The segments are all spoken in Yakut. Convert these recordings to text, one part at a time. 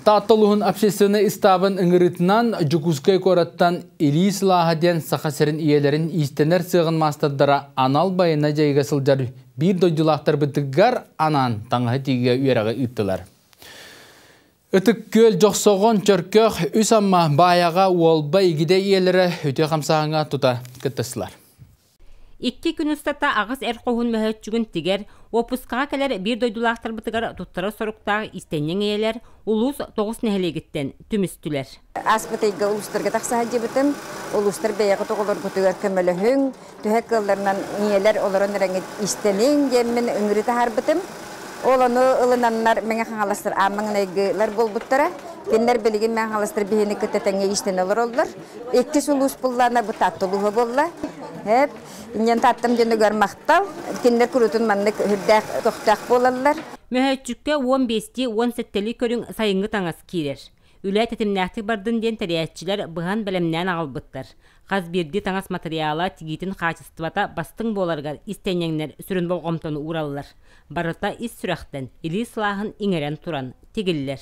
Таатта улууһун общественнай ыстаабын ыҥырыытынан Дьокуускай куораттан Илии сылааһа диэн Саха сирин ийэлэрин иистэнэр сыаҕын маастардара анал байыаннай дьайыыга сылдьар биир дойдулаахтарбытыгар анаан таҥаһы тиигэ үөрэҕи ыыттылар. Ытык-Күөл, Дьохсоҕон, Чөркөх, Үс Амма, Баайаҕа, Уолба, Игидэй ийэлэрэ үтүө хамсааһыҥҥа тута кыттыстылар. Икки күн устата аҕыс эр хоһун мөһөөччүгүн тигэр, уоппускаҕа кэлэр биир дойдулаахтарбытыгар туттара соруктаах истэнньэҥ эйэлэр улуус тоҕус нэһилиэгиттэн түмүстүлэр. Ааспыт ыйга улуустарга тахса сылдьыбытым. Улуустар бэйэҕит оҕолоргутугар көмөлөһүҥ, төһө кыалларынан ийэлэр олорон эрэҥҥит истэниҥ диэммин ыҥырыы таһаарбытым. Ол ону ылынаннар Мэҥэ Хаҥаластар аан маҥнайгылар буолбуттара. Кинилэр билигин Мэҥэ Хаҥаластар биһини кытта тэҥҥэ иистэнэ олороллор. Икки сулуус пуллана бытаттылыһа буолла. Эп, иннен таттым дөнүгөр мақтал, киндер курутун маннык үрдээх көхтөөх буолаллар. Мөһөөччүккэ уон биэсти уон сэттэли көрүҥ сайынгы таҥас киирэр. Үлэ тэтимнээхтик бардын диэн тэрээччилэр быһан бэлэмнээн аҕалбыттар. Хас биирдии таҥас матырыйаала тигиитин хаачыстыбата бастыҥ буоларыгар истиэнньэҥнэр сүрүн болҕомтону уураллар. Барыта ис сүрэхтэн, илии сылааһын иҥэрэн туран тигиллэр.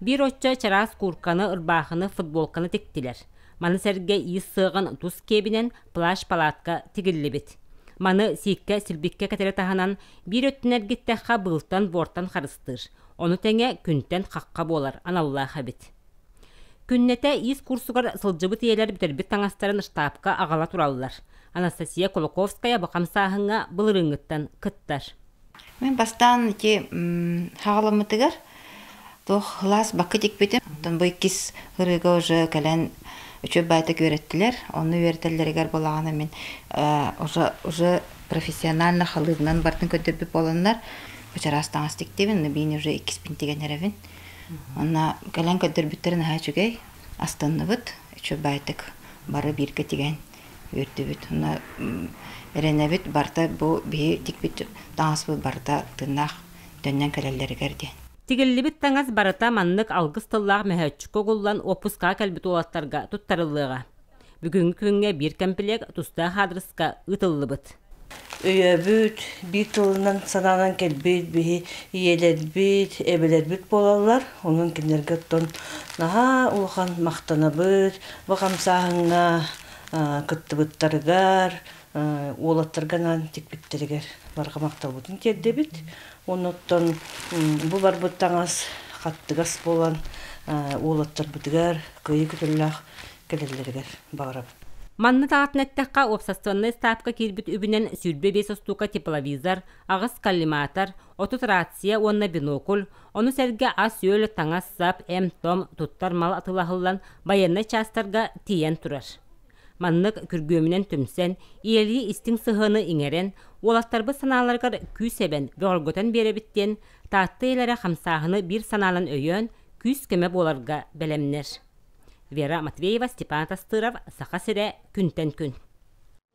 Биир оччо чараас куурканы, ырбаахыны, футболканы тиктилэр. Маны сэргэ иис сыаҕын тус киэбинэн плащ-палатка тигиллибит. Маны сииккэ силбиккэ кэтэрэ таһынан, биир өттүн эргиттэххэ быылтан-буортан харыстыыр. Ону тэҥэ күнтэн хахха буолар аналлаах эбит. Күннэтэ иис курсугар сылдьыбыт ийэлэр бүтэрбит таҥастарын штабка аҕала тураллар. Анастасия Кулаковская бу хамсааһыҥҥа былырыыҥҥыттан кыттар. Мин бастаан ити саҕаламмытыгар туох сылаас бакка тикпитим, оттон бу иккис ырыыга уже кэлэн үчүгэй баайда үөрэттилэр. Онно үөрэтэллэригэр буоллаҕына мин уже уже профессионально халыыбынан бардын көрдөрбүт буоланнар бачараас таҥас тиктибин, мин уже иккиспин тигэн эрэбин. Онно кэлэн көрдөрбүттэрэ наһаа үчүгэй, астынныбыт, үчүгэй баайдык бары бииргэ тигэн үөрдүбүт уонна эрэнэбит барыта бу биһи тикпит таҥаспыт барыта тыыннаах төннөн кэлэллэригэр диэн Тигиллибит таҥас барыта маннык алгыс тыллаах мөһөөччүккэ угуллан уоппускаҕа кэлбит уолаттарга туттарыллыаҕа. Бүгүҥҥү күҥҥэ биир кэмпилиэк тустаах аадырыска ыытыллыбыт. Өйөөбүт, биир тылынан санаанан кэлбит биһи ийэлэрбит, эбэлэрбит буолаллар. Онон кинилэргэ оттон наһаа улахан махтанабыт. Бу хамсааһыҥҥа кыттыбыттарыгар, уолаттарга анаан тикпиттэригэр барҕа махталбытын тиэрдэбит. Уонна оттон бу барбыт таҥас хаттыгас буолан, уолаттарбытыгар кыайыы көтөллөөх кэлэллэригэр баҕарабын. Маннык аатын эттэххэ, уопсастыбаннай ыстаапка киирбит үбүнэн сүүрбэ биэс остуока тепловизор, аҕыс коллиматор, отут рация уонна бинокль, ону сэргэ ас-үөл, таҥас-сап, эмп-том, туттар мал атылаһыллан, байыаннай чаастарга тиийэн турар. Маннык күргүөмүнэн түмсэн, ийэлии истиҥ сыһыаны иҥэрэн, уолаттарбыт санааларыгар күүс-эбэн бөҕөргөтөн биэрэбит диэн Таатта ийэлэрэ хамсааһыны биир санаанан өйөөн, күүс-көмө буоларга бэлэмнэр. Вера Матвеева, Степан Атастыров, Саха сирэ күнтэн күн.